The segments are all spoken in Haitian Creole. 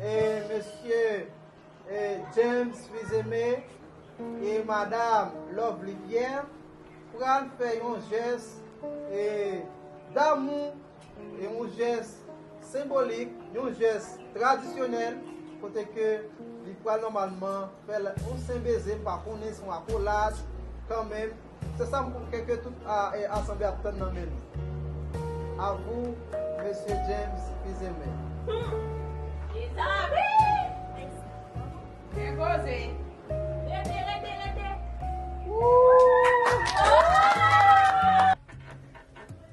E mesye e James Fils-Aimé e madam Lovely Pierre pral fè yon jès e damou, e yon jès senbolik, yon jès tradisyonèl kote ke li pral nòmalman fè l yon senbeze, m pa konnen si yon akolad kanmenm. Se sa m konkè ke tout asanble ap tann nan men nou. A vou, Mesye James Fils-Aimé. Humm! Li sa wi! Gen koze! Rete, rete, rete! Ooh! Ooh!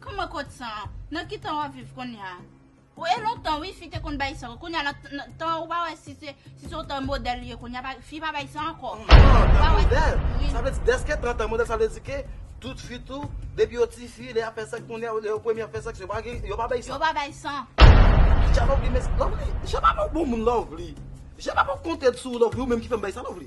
Kman kot san an? Nan ki tan wap viv konnya? Bon e lontan wi fi te konn bay san, konnya nan tan an ou pa wè si se si se yon tan modèl li ye konnya pa fi pa bay san ankò. Tan modèl? Sa vle di dèske tan tan modèl sa vle di ke tout fi tou depi yo ti fi lè yap fè sèks konnya lè yo premye ap fè sèks yo pa gen yo pa bay san? Yo pa bay san. Ki jan Lovely men, Lovely, je pa mòd bon moun Lovely, je pa mòd konte sou ou Lovely ou menm ki fèm bay sa Lovely.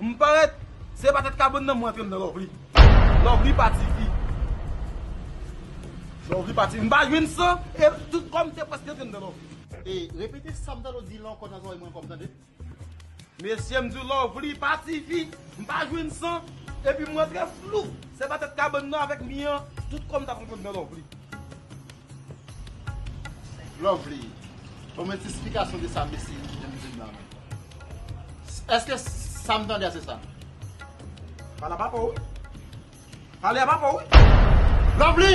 M parèt Se pa tèt kabon nan m rantre m nan Lovely Lovely pa tifi Lovely pa tifi M pa jwenn san e tout kò m te prèske rantre m nan Lovely. E repete sam tande w di lan ankò nan zorèy mwen ankò m tande. Mesye m di w Lovely pa tifi M pa jwenn san epi m rantre flou Se pa tèt kabann nan avèk mi an tout kò m ta pran nan Lovely. Lovely Ban mwen ti esplikasyon de sa mesye yo ki te mete blan an Eske sa m tande a se sa? Pale a papa w Pale a papa w Lovely